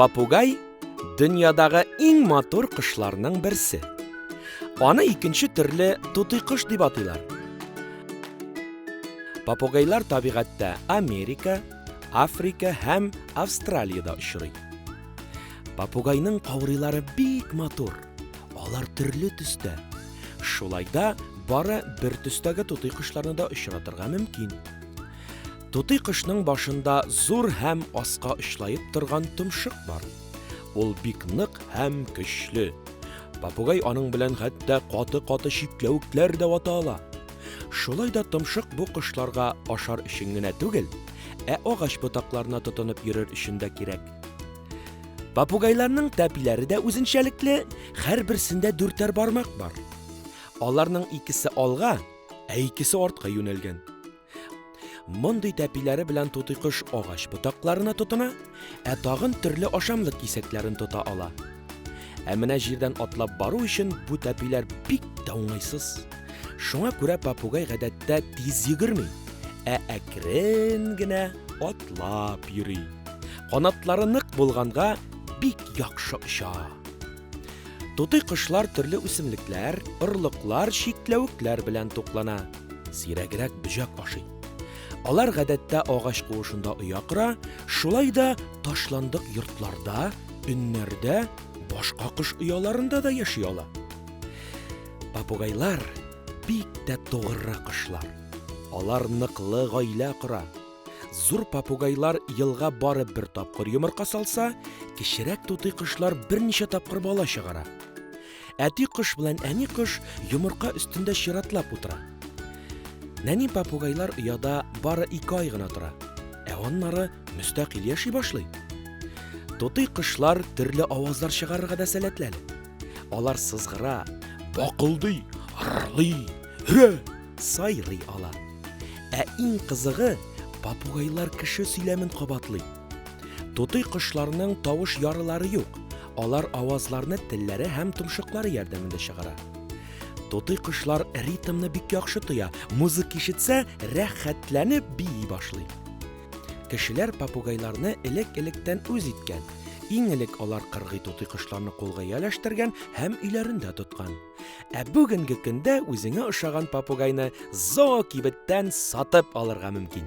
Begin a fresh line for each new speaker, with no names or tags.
Папугай дөньядагы иң матур кошларның берсе. Аны икенче төрле тутый кош дип атыйлар. Папугайлар табигатьтә Америка, Африка һәм Австралиядә очрый. Попугайның каурыйлары бик матур. Алар төрле төстә. Шулай да бары бер төстәге тутый кошларны да очратырга мөмкин. Тутый кошның башында зур һәм аска очлаеп торган томшык бар. Ул бик нык һәм көчле. Попугай аның белән хәтта каты-каты чикләвекләр дә вата ала. Шулай да томшык бу кошларга ашар өчен генә түгел, ә агач ботакларына тотынып йөрер өчен дә кирәк. Попугайларның тәпиләре дә үзенчәлекле, һәрберсендә дүртәр бармак бар. Аларның икесе алга, ә икесе артка юнәлгән. Мондый тәпиләре белән тутый кош агач ботакларына тотына, ә тагын төрле ашамлык кисәкләрен тота ала. Ә менә җирдән атлап бару өчен бу тәпиләр бик тә уңайсыз. Шуңа күрә попугай гадәттә тиз йөгерми, ә әкрен генә атлап йөри. Канатлары нык булганга бик яхшы оча. Тутый кошлар төрле үсемлекләр, орлыклар, чикләвекләр белән туклана. Сирәгрәк бөҗәк ашый. Алар гадәттә агач куышында оя кора, шулай да ташландык йортларда, өннәрдә, башка кош ояларында да яши ала. Попугайлар бик тә тугры кошлар. Алар ныклы гаилә кора. Зур попугайлар елга барып бер тапкыр йомырка салса, кечерәк тутый кошлар берничә тапкыр бала чыгара. Әти кош белән әни кош йомырка өстендә чиратлап утыра. Нәни попугайлар ояда бары ике ай гына тора, ә аннары мөстәкыйль яши башлый. Тутый кошлар төрле авазлар чыгарырга да сәләтләр. Алар сызгыра, бакылдый, ырлый, һө, сайрый ала. Ә иң кызыгы, попугайлар кеше сөйләмен кабатлый. Тутый кошларның тавыш ярылары юк. Алар авазларны телләре һәм томшыклары ярдәмендә чыгара. Тутый кошлар ритмны бик яхшы тоя. Музык ишетсә, рәхәтләнеп бии башлый. Кешеләр попугайларны элек-электән үз иткән. Иң элек алар кыргый тутый кошларны кулга ияләштергән һәм өйләрендә тоткан. Ә бүгенге көндә үзеңә ошаган попугайны зоокибеттән сатып алырга мөмкин.